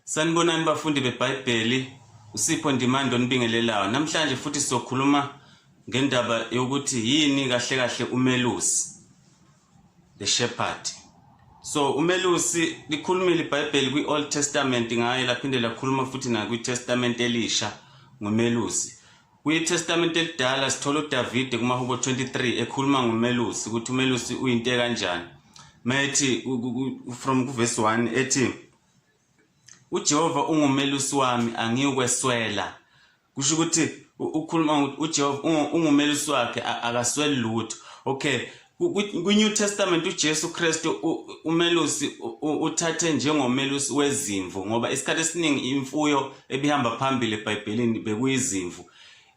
Sanibonani bafundi beBhayibheli, uSipho Ndimande onibingelelayo. Namhlanje futhi sizokhuluma ngendaba yokuthi yini kahle kahle umelusi, the shepherd. So umelusi likhulumile iBhayibheli kwi-Old Testament ngaye laphinde lakhuluma futhi nakwiTestament elisha ngomelusi. KwiTestamente eliDala sithola uDavide kumaHubo 23 ekhuluma ngomelusi ukuthi umelusi uyinto ekanjani. Methi from kuverse 1 ethi uJehova ungumelusi wami angiyokweswela. Kusho ukuthi ukhuluma uJehova ungumelusi wakhe akasweli lutho. Okay, Kwi-New Testament uJesu Kristu umelusi uthathe njengomelusi wezimvu ngoba isikhathi esiningi imfuyo ebihamba phambili eBhayibhelini bekuyizimvu.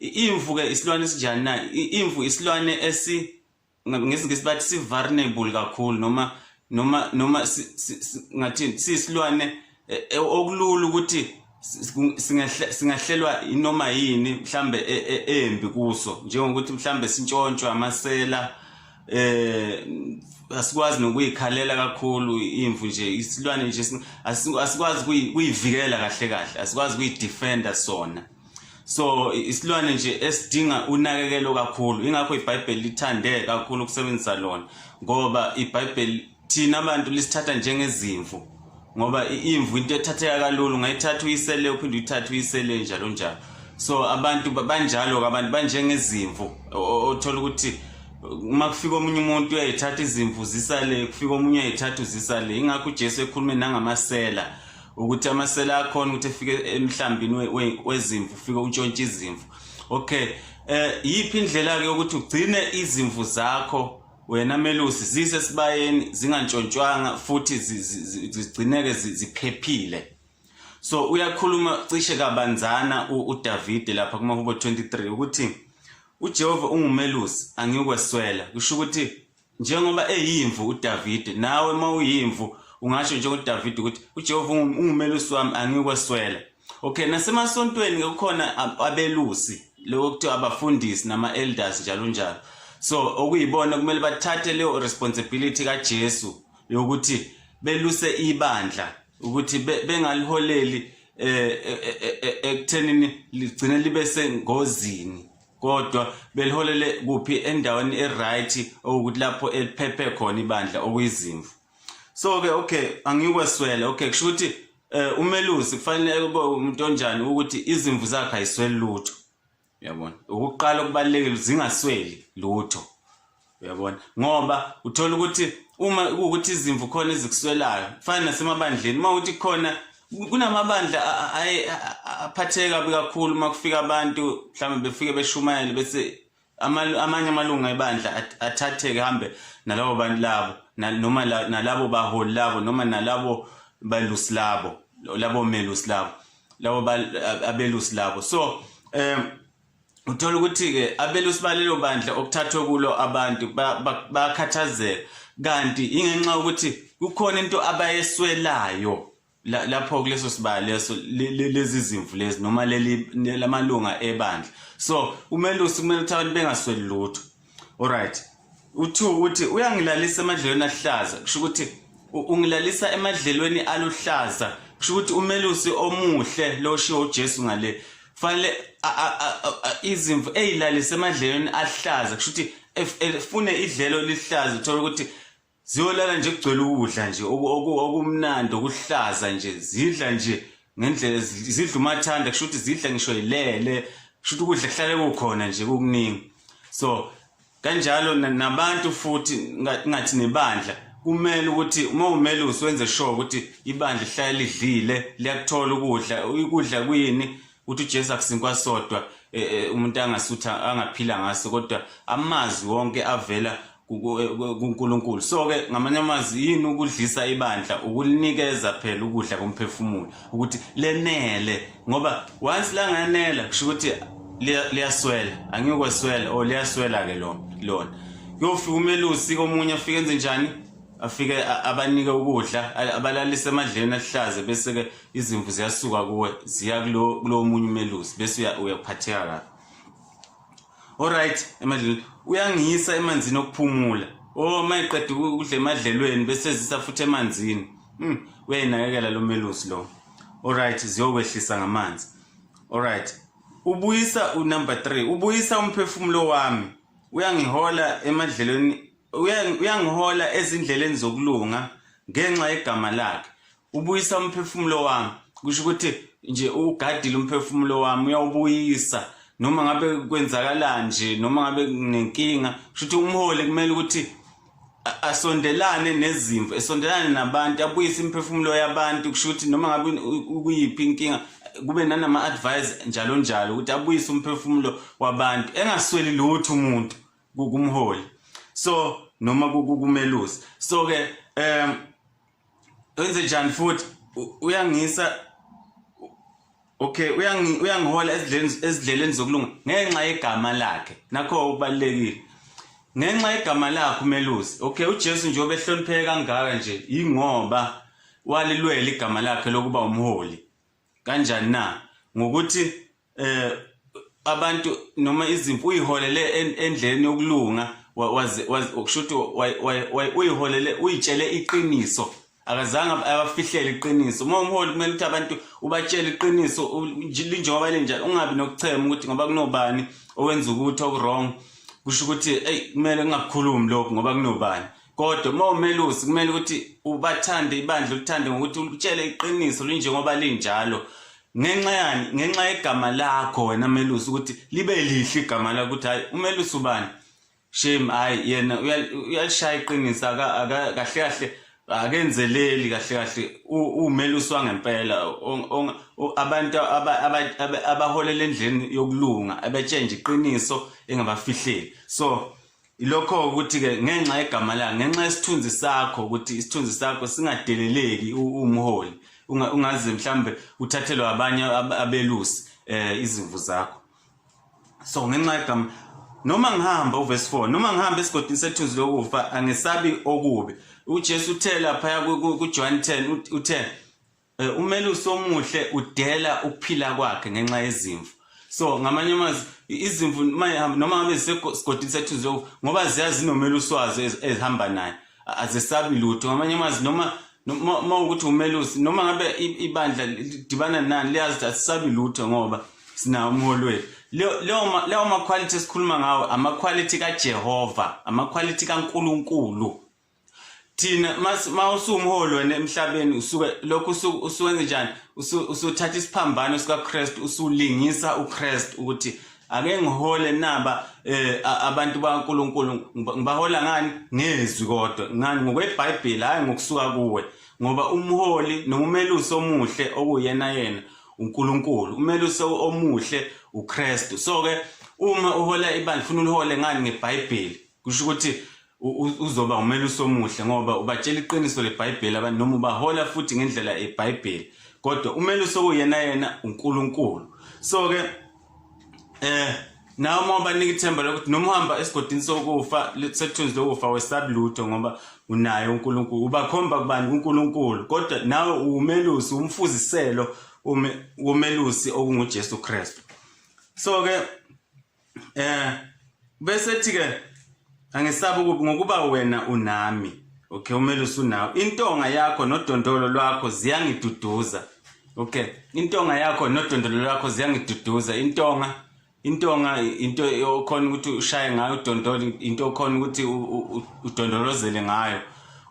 Imvu ke isilwane esinjani na? Imvu isilwane esi ngesingisi bathi si vulnerable kakhulu noma noma noma ngathi siyisilwane e, e, okulula ukuthi singahlelwa inoma yini mhlambe e, e, embi kuso njengokuthi mhlambe sintshontshwa amasela eh asikwazi nokuyikhalela kakhulu imvu nje isilwane nje asikwazi kuyivikela kahle kahle asikwazi kuyidefender sona so isilwane nje esidinga unakekelo kakhulu ingakho ibhayibheli lithande kakhulu ukusebenzisa lona ngoba ibhayibheli thina abantu lisithatha njengezimvu ngoba imvu into ethatheka kalula ungayithatha uyisele uphinde uyithathe uyisele njalo njalo so abantu banjalo-ke abantu banjengezimvu othola ukuthi uma kufika omunye umuntu uyayithatha izimvu zisale kufika omunye uyayithatha uzisale ingakho ujesu ekhulume nangamasela ukuthi amasela akhona ukuthi efike emhlambini wezimvu ufike untshontshe izimvu okay eh yiphi indlela-ke yokuthi ugcine izimvu zakho wena melusi zise sibayeni zingantshontshwanga futhi zigcineke ziphephile so uyakhuluma cishe kabanzana uDavide lapha kumahubo 23 ukuthi uJehova ungumelusi angikweswela kusho ukuthi njengoba eyimvu uDavide nawe uma uyimvu ungasho njengoDavide ukuthi uJehova ungumelusi wami angikweswela Okay nasemasontweni ke kukhona abelusi lokho kuthiwa abafundisi nama elders njalo njalo so okuyibona kumele bathathe leyo responsibility kaJesu yokuthi beluse ibandla ukuthi bengaliholeli eh, eh, eh, ekuthenini ligcine libe sengozini kodwa beliholele kuphi endaweni eright okuthi lapho eliphephe khona ibandla okuyizimvu so ke okay angikweswele okay kusho ukuthi eh umelusi kufanele kube umuntu onjani ukuthi izimvu zakhe ayisweli lutho uyabona ukuqala okubalekile zingasweli lutho uyabona ngoba uthola ukuthi uma ukuthi izimvu khona ezikuswelayo kufana nasemabandleni uma ukuthi khona kunamabandla aphatheka kabi kakhulu uma kufika abantu mhlawumbe befike beshumayele bese amanye amalunga ebandla athatheke hambe nalabo bantu labo noma nalabo baholi labo noma nalabo balusi labo labo melusi labo labo abelusi labo so um uthola ukuthi-ke abelusi balelo bandla okuthathwe kulo abantu bakhathazeka kanti ingenxa yokuthi kukhona into abayeswelayo La- lapho kuleso sibaya leso le- le- lezi zimvu lezi noma leli ne- lamalunga ebandla so umelusi kumele ukuthi abantu bengasweli lutho alright uthu uthi uyangilalisa emadlelweni aluhlaza kusho ukuthi u- ungilalisa emadlelweni aluhlaza kusho ukuthi umelusi omuhle lo oshiwo ujesu ngale fanele a- a- a- a- a- izimvu eyilalise emadlelweni aluhlaza kusho ukuthi ef- efune idlelo eliluhlaza uthole ukuthi ziyolala nje kugcwele ukudla nje okumnandi okuhlaza nje zidla nje ngendlela zidla umathanda kusho ukuthi zidla ngisho yilele kusho ukuthi ukudla kuhlale kukhona nje kukuningi so kanjalo nabantu futhi ngathi nebandla kumele ukuthi uma umele usiwenze sure ukuthi ibandla lihlale lidlile liyakuthola ukudla ukudla kuyini ukuthi uJesu akusinkwa sodwa e, e, umuntu angasutha angaphila ngaso kodwa amazwi wonke avela e, kuNkulunkulu so ke ngamanye amazwi yini ukudlisa ibandla ukulinikeza phela ukudla komphefumulo ukuthi lenele ngoba once langanela kusho ukuthi liyaswela angikweswela o oh, liyaswela ke lona lona kuyofika umelusi komunye afike enze njani afike abanike ukudla abalalise emadleni ahlaze bese ke izimvu ziyasuka kuwe ziya kulo omunye umelusi bese uyaphatheka kabi alright emadlelweni uyangiyisa emanzini okuphumula o oh, uma iqeda ukudla emadlelweni bese ezisa futhi emanzini hmm, uyayinakekela lo melusi lo alright ziyokwehlisa ngamanzi alright ubuyisa unumber three ubuyisa umphefumulo wami uyangihola emadlelweni uyangihola ezindleleni zokulunga ngenxa yegama lakhe ubuyisa umphefumulo wami kusho ukuthi nje ugadile umphefumulo wami uyawubuyisa noma ngabe kwenzakalani nje noma ngabe nginenkinga kusho ukuthi umholi kumele ukuthi asondelane nezimvu esondelane nabantu abuyise imphefumulo yabantu kusho ukuthi noma ngabe ukuyiphi inkinga kube nanama advice njalo njalo ukuthi abuyise umphefumulo wabantu engasweli lutho umuntu kumholi so noma kukumelusi so ke um wenze njani futhi uyangisa okay uyangi uyangihola ezidleni ezidleleni zokulunga ngenxa yegama lakhe nakho ubalekile ngenxa yegama lakhe umelusi okay uJesu nje obehlonipheke kangaka nje ingoba walilwela igama lakhe lokuba umholi kanjani na ngokuthi eh abantu noma izimpi uyiholele endleleni yokulunga waze kusho ukuthi uyiholele uyitshele iqiniso akazange abafihlele iqiniso uma umholi kumele ukuthi abantu ubatshele iqiniso linjengoba linjalo ungabi nokuchema ukuthi ngoba kunobani owenza ukuthi okuwrong kusho ukuthi eyi kumele kungakukhulumi lokhu ngoba kunobani kodwa uma umelusi kumele ukuthi ubathande ibandla ulithande ngokuthi ulitshele iqiniso linjengoba linjalo ngenxa yani ngenxa yegama lakho wena melusi ukuthi libe lihle igama lakho ukuthi hayi umelusi ubani shame hayi yena uyalishaya iqiniso kahle kahle akenzeleli kahle kahle umelusi wangempela abantu abaholela endleni yokulunga abetshenje iqiniso engabafihleli so Ilokho ukuthi ke ngenxa yegama lakhe ngenxa yesithunzi sakho ukuthi isithunzi sakho singadeleleki umholi ungaze mhlambe uthathelwe abanye abelusi eh izimvu zakho so ngenxa yegama noma ngihamba uverse 4 noma ngihamba esigodini sethuzi lokufa angesabi okubi uJesu uthe lapha kuJohn 10 uthe Eh, umelusi omuhle udela ukuphila kwakhe ngenxa yezimvu so ngamanye amazwi izimvu noma ngabe zisesigodini sethu nje ngoba ziyazi nomelusi wazo ezihamba naye azesabi lutho ngamanye amazwi noma uma ukuthi umelusi noma ngabe ibandla lidibana nani liyazi ukuthi asisabi lutho ngoba sinawo umholi wethu leyo makhwalithi esikhuluma ngawo amakhwalithi kajehova amakhwalithi kankulunkulu thina uma usumholi wena emhlabeni usuke lokhu usuwenze njani usuthatha isiphambano sikakristu usulingisa ukristu ukuthi ake ngihole naba eh abantu bakaNkuluNkulu ngibahola ngani ngezwi kodwa ngani ngokweBhayibheli hayi ngokusuka kuwe ngoba umholi nomumelusi omuhle okuyena yena uNkulunkulu umelusi omuhle uKristu so ke uma uhola ibandla ufuna ulihole ngani ngeBhayibheli kusho ukuthi uzoba umelusi omuhle ngoba ubatshela iqiniso lebhayibheli abantu noma ubahola futhi ngendlela ebhayibheli kodwa umelusi okuyena yena unkulunkulu so-ke eh nawe uma ubanika ithemba lokuthi noma uhamba esigodini sokufa sekuthunzi lokufa wesabi lutho ngoba unaye unkulunkulu ubakhomba kubani kunkulunkulu kodwa nawe uwumelusi umfuziselo womelusi okungujesu kristu so-ke eh bese ethi ke angesabi ukuba ngokuba wena unami okay umele usunawo intonga yakho nodondolo lwakho ziyangiduduza okay intonga yakho nodondolo lwakho ziyangiduduza intonga intonga into okhona ukuthi ushaye ngayo udondolo into okhona ukuthi udondolozele ngayo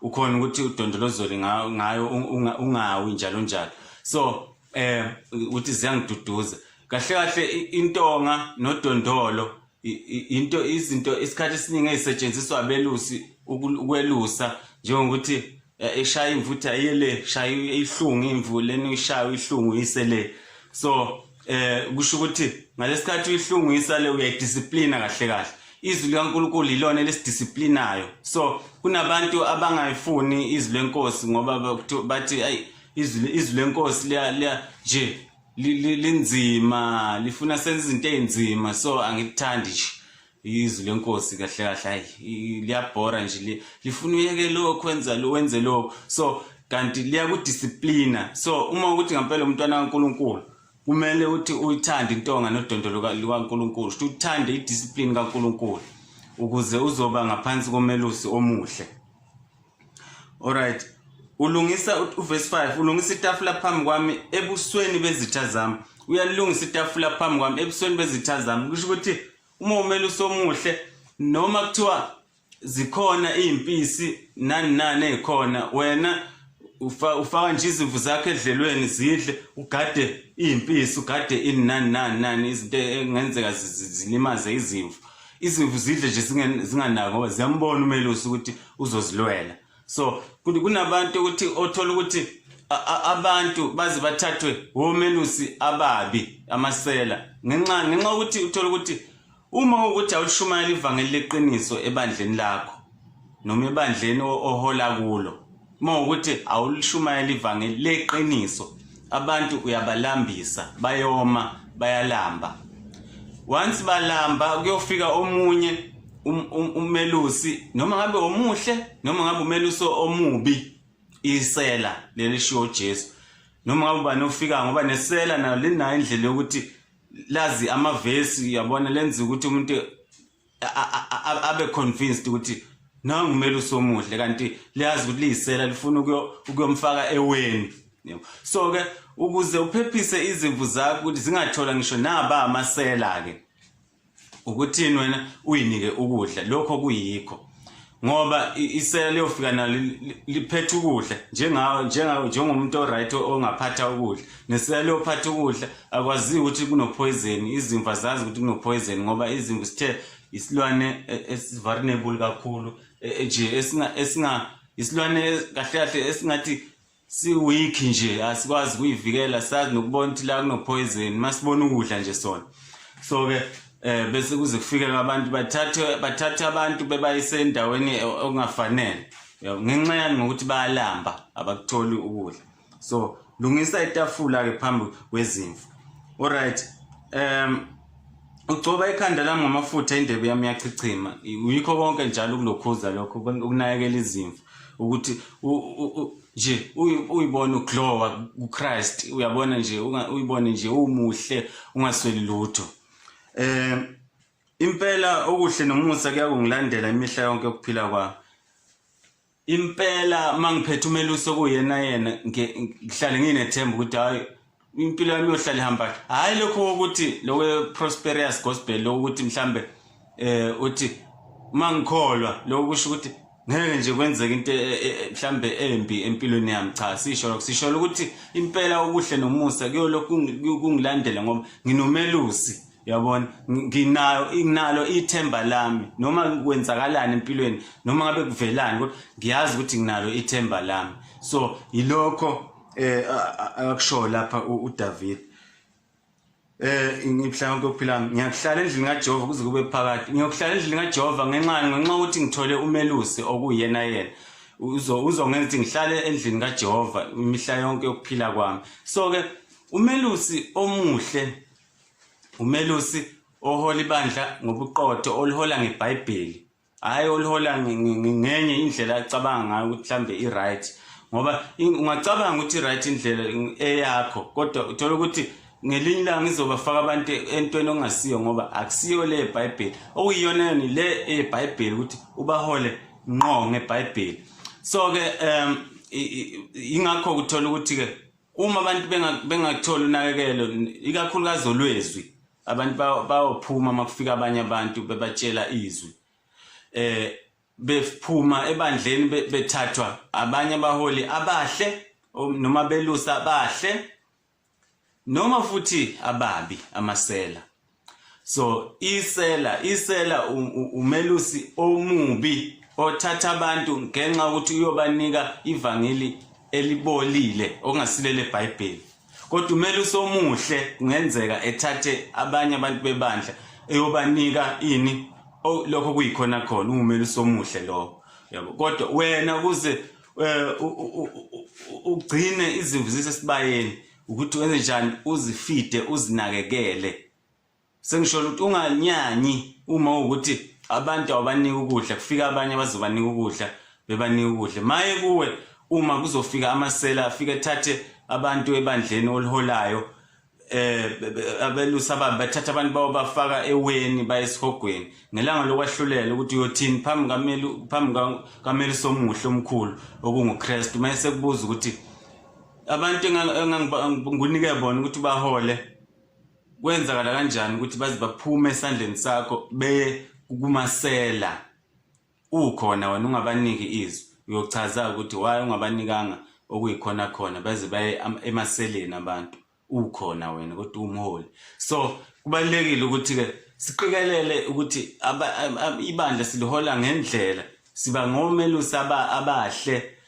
ukhona ukuthi udondolozele ngayo ungawi njalo njalo so eh uthi ziyangiduduza kahle kahle intonga nodondolo into izinto isikhathi esiningi ezisetshenziswa abelusi ukwelusa njengokuthi e, eshaya imvuthu ayele shaya ihlungu imvu leni ushaya ihlungu isele so eh kusho ukuthi ngalesikhathi uyihlungu isale uyayidisciplina kahle kahle izwi likaNkulunkulu yilona elisidisciplinayo so kunabantu abangayifuni izwi lenkosi ngoba bathi ayi izwi izwi lenkosi liya liya nje linzima lifuna senza izinto ezinzima so angikuthandi nje izwi lenkosi kahle kahle hayi liyabhora nje lifuna uyeke lokho wenza lo wenze lokho so kanti liyakudisciplina so uma ukuthi ngempela umntwana kaNkuluNkulu kumele uthi uyithande intonga nodondolo lukaNkuluNkulu ukuthi uthande idiscipline kaNkuluNkulu ukuze uzoba ngaphansi komelusi omuhle Alright. Ulungisa uverse 5, ulungisa itafula phambi kwami ebusweni bezitha zami. Uyalungisa itafula phambi kwami ebusweni bezitha zami. Kusho ukuthi uma umele usomuhle noma kuthiwa zikhona izimpisi nani nani ezikhona wena ufaka nje izimvu zakho edlelweni zidle ugade izimpisi ugade ini nani nani nani izinto engenzeka zilimaze izimvu izimvu zidle nje zinganako ziyambona umelusi ukuthi uzozilwela so kunabantu ukuthi othola ukuthi abantu baze bathathwe womelusi ababi amasela ngenxa ngenxa ukuthi uthola ukuthi uma ukuthi awushumayela ivangeli leqiniso ebandleni lakho noma ebandleni ohola kulo uma ukuthi awulishumayela ivangeli leqiniso abantu uyabalambisa bayoma bayalamba once balamba kuyofika omunye um, um, umelusi noma ngabe omuhle noma ngabe umelusi omubi isela leli shiwo Jesu noma ngabe ubani ofika ngoba nesela nayo linayo indlela yokuthi lazi amavesi uyabona lenza ukuthi umuntu abe convinced ukuthi nangu kumele usomuhle kanti liyazi ukuthi liyisela lifuna ukuyomfaka eweni so ke ukuze uphephise izimvu zakho ukuthi zingathola ngisho naba amasela ke ukuthini wena uyinike ukudla lokho kuyikho ngoba isela liyofika nalo liphethe ukudla njengawo njengawo njengomuntu oright ongaphatha ukudla nesela liyophatha ukudla akwazi ukuthi kunopoison izimva zazi ukuthi kunopoison ngoba izimvu sithe isilwane e, esivulnerable kakhulu e, e, nje esinga esinga isilwane kahle kahle esingathi siweak nje asikwazi kuyivikela sazi nokubona ukuthi la kunopoison masibona ukudla nje sona so ke eh bese kuze kufikela abantu bathathe bathathe abantu bebayise endaweni e, okungafanele ngenxa yani ngokuthi bayalamba abakutholi ukudla so lungisa itafula ke phambi kwezimvu alright um Ugcoba ikhanda lami ngamafutha indebe yami yachichima. Yikho konke njalo ukulokhuza lokho ukunakekela izimvu ukuthi nje uyibona uglowa kuChrist uyabona nje uyibone nje umuhle ungasweli lutho. Eh impela okuhle nomusa kuyakungilandela imihla yonke ukuphila kwami. impela mangiphethe umelusi okuyena yena ngihlale nginethemba ukuthi hayi impilo yami yohlale ihamba hayi lokho ukuthi lokwe prosperous gospel lokuthi mhlambe eh uthi mangikholwa lokho kusho ukuthi ngeke nje kwenzeke into e, e, e, mhlambe embi empilweni yami cha sisho lokho sisho ukuthi impela okuhle nomusa kuyolokhu kungilandela ngoba nginomelusi yabona nginayo nginalo ithemba lami noma kwenzakalani empilweni noma ngabe kuvelani kodwa ngiyazi ukuthi nginalo ithemba lami so yilokho eh akusho lapha uDavid eh ngibuhlanga kokuphila ngiyakuhlala endlini kaJehova kuze kube phakade ngiyokuhlala endlini kaJehova ngenxa ngenxa ukuthi ngithole umelusi okuyena yena uzongenza ukuthi ngihlale endlini kaJehova imihla yonke yokuphila kwami so ke umelusi omuhle Umelusi ohola ibandla ngobuqotho olihola ngeBhayibheli hhayi olihola ngenye indlela acabanga ngayo ukuthi mhlawumbe i-right ngoba ungacabanga ukuthi i-right indlela eyakho kodwa uthola ukuthi ngelinye ilanga izobafaka abantu entweni okungasiyo ngoba akusiyo le yebhayibheli okuyiyona yona le eyebhayibheli ukuthi ubahole ngqo ngebhayibheli so-ke um yingakho kuthola ukuthi-ke uma abantu bengakutholi unakekelo ikakhulukazi olwezwi abantu bayophuma uma kufika abanye abantu bebatshela izwi eh bephuma ebandleni bethathwa abanye abaholi abahle noma belusa abahle noma futhi ababi amasela so isela isela umelusi omubi othatha abantu ngenxa ukuthi uyobanika ivangeli elibolile okungasilele eBhayibheli kodwa umelusi omuhle kungenzeka ethathe abanye abantu bebandla eyobanika ini lokho kuyikhona khona umelusi omuhle lowo yabo kodwa wena kuze eh, ugcine izimvu zisesibayeni ukuthi wenze njani uzifide uzinakekele sengisholo ukuthi unganyanyi uma ukuthi abantu abanika ukudla kufika abanye abazobanika ukudla bebanika ukudla maye kuwe uma kuzofika amasela afike thathe abantu ebandleni oliholayo eh abelusa baba bathatha abantu bawo bafaka eweni bayesihogweni ngelanga lokwahlulela ukuthi uyothini phambi kameli phambi kameli somuhle omkhulu okunguKristu mayese kubuza ukuthi abantu engangikunike bona ukuthi bahole kwenzakala kanjani ukuthi baze baphume esandleni sakho beye kukumasela ukhona wena ungabaniki izwi uyochaza ukuthi waye ungabanikanga okuyikhona khona baze baye emaseleni abantu ukhona wena kodwa umholi so kubalekile ukuthi ke siqikelele ukuthi ibandla silihola ngendlela siba ngomelusi abahle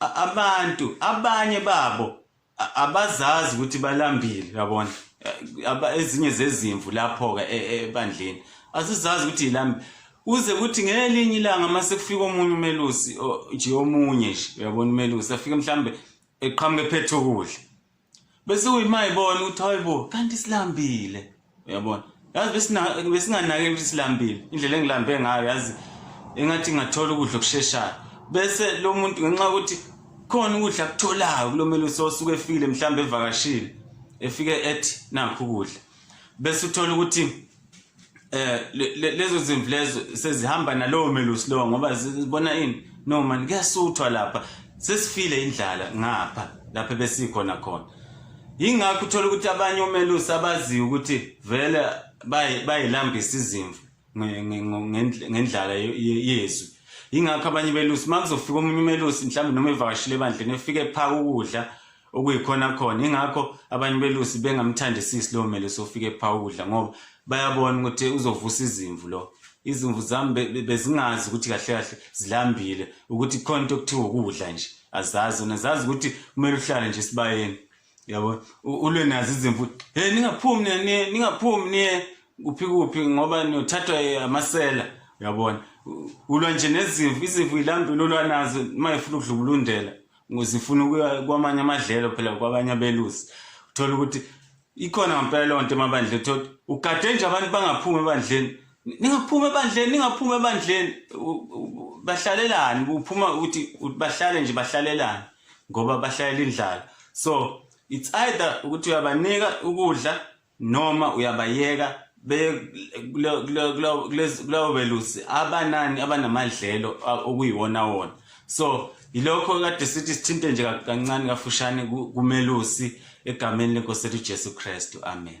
abantu abanye babo abazazi ukuthi balambile yabona ezinye zezimvu lapho ke e, e, ebandleni asizazi ukuthi yilambile uze kuthi ngelinye ilanga uma sekufika omunye umelusi nje omunye nje uyabona umelusi afike mhlambe eqhamuke phethe ukudla bese uyimayibona ukuthi hayibo kanti silambile uyabona yazi besinganakeli ukuthi silambile indlela engilambe ngayo yazi engathi ngathola ukudla okusheshayo bese lo muntu ngenxa yokuthi khona ukudla akutholayo kulo melusi osuke efile mhlawumbe evakashile efike ethi nakho ukudla bese uthola ukuthi eh lezo zimvu lezo sezihamba nalowo melusi lowo ngoba zibona ini no man kuyasuthwa lapha sesifile indlala ngapha lapha besikhona khona yingakho uthola ukuthi abanye omelusi abaziyo ukuthi vele bayilambisa izimvu ngendlala yezwi yingakho abanye belusi uma kuzofika omunye umelusi mhlawumbe noma evakashile ebandleni efike ephaka ukudla okuyikhona khona ingakho abanye belusi bengamthandisisi lowo mele sofike phawudla ngoba bayabona ukuthi uzovusa izimvu lo izimvu zami bezingazi ukuthi kahle kahle zilambile ukuthi khona into okuthiwa ukudla nje azazi zona zazi ukuthi kumele uhlale nje esibayeni yabo ulwe nazo izimvu hey ningaphumi niye ningaphumi niye kuphi kuphi ngoba niyothathwa amasela uyabona ulwa nje nezimvu izimvu ilambile olwanazo uma efuna ukudlubulundela Ngizifuna ukuya kwamanye amadlelo phela kwabanye abelusi. Uthola ukuthi ikhona ngempela leyo nto emabandleni uthola ukuthi ugade nje abantu bangaphumi ebandleni. Ningaphumi ebandleni, ningaphumi ebandleni. U- u- Bahlalelani? Kuphuma ukuthi ukuthi bahlale nje bahlalelani ngoba bahlalela indlala. So it's either ukuthi uyabanika ukudla noma uyabayeka kuleyo belusi abanani abanamadlelo okuyiwona wona so yilokho kade sithi sithinte nje kancane kafushane kumelusi egameni lenkosi lethu Jesu Kristu amen